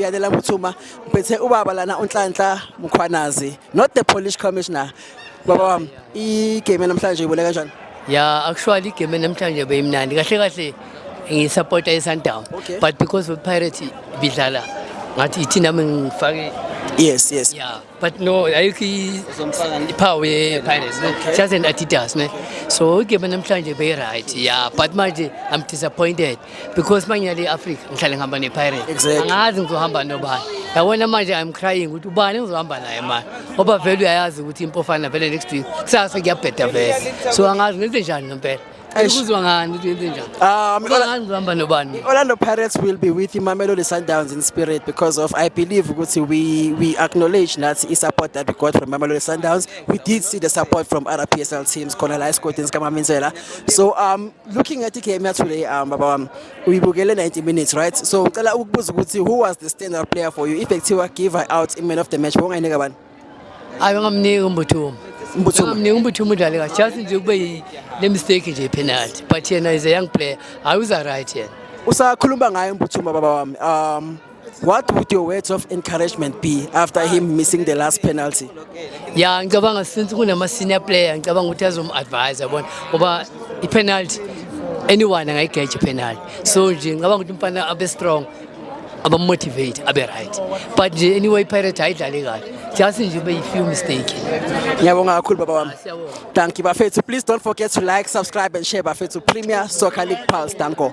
Yalela Muthuma ngiphethe ubaba lana uNhlanhla Mkhwanazi not the Polish commissioner baba wami igame namhlanje ibone kanjani ya actually igame namhlanje beyimnandi kahle kahle ngisupporta iSundowns Okay. but because of Pirates bidlala ngathi ithina mina ngifake yes yes ya but no ayikho iphawu ye-pirates just an adidas ne so igame namhlanje beyi-right ya but manje i'm disappointed because uma ngiyale i-africa ngihlale ngihamba ne-pirates angazi ngizohamba nobani yabona manje i'm crying ukuthi ubani ngizohamba naye manje ngoba vele uyayazi ukuthi impofana vele next week kusasa kuyabheda vele so angazi ngenze njani ngempela Ayikuzwa ngani ukuthi yenze njani? Ah, um, Ola- Ngani uhamba nobani? Orlando Pirates will be with Mamelodi Sundowns in spirit because of I believe ukuthi we we acknowledge that the support that we got from Mamelodi Sundowns. We did see the support from other PSL teams, khona la esigodini sikaMamenzela. So um looking at igame ya today um baba wami uyibukele 90 minutes right? So ngicela ukubuza ukuthi who was the standout player for you? If ekuthiwa give her out in man of the match, wongayinika bani? hayi ungamniki umbuthumo ungamniki umbuthumo udlale kahle just nje kube le mistake nje penalty but yena is a young player hayi uza right yena usakhuluma ngaye umbuthumo baba wami um what would your words of encouragement be after him missing the last penalty ya ngicabanga since kunama senior player ngicabanga ukuthi azom advise yabona ngoba i penalty anyone angayigeja penalty so nje ngicabanga ukuthi umfana abe strong abamotivate abe right but nje anyway pirate ayidlale kahle just nje ube yi-few mistake ngiyabonga kakhulu baba wami danki bafethu please don't forget to like subscribe and share bafethu premier soccer league pulse danko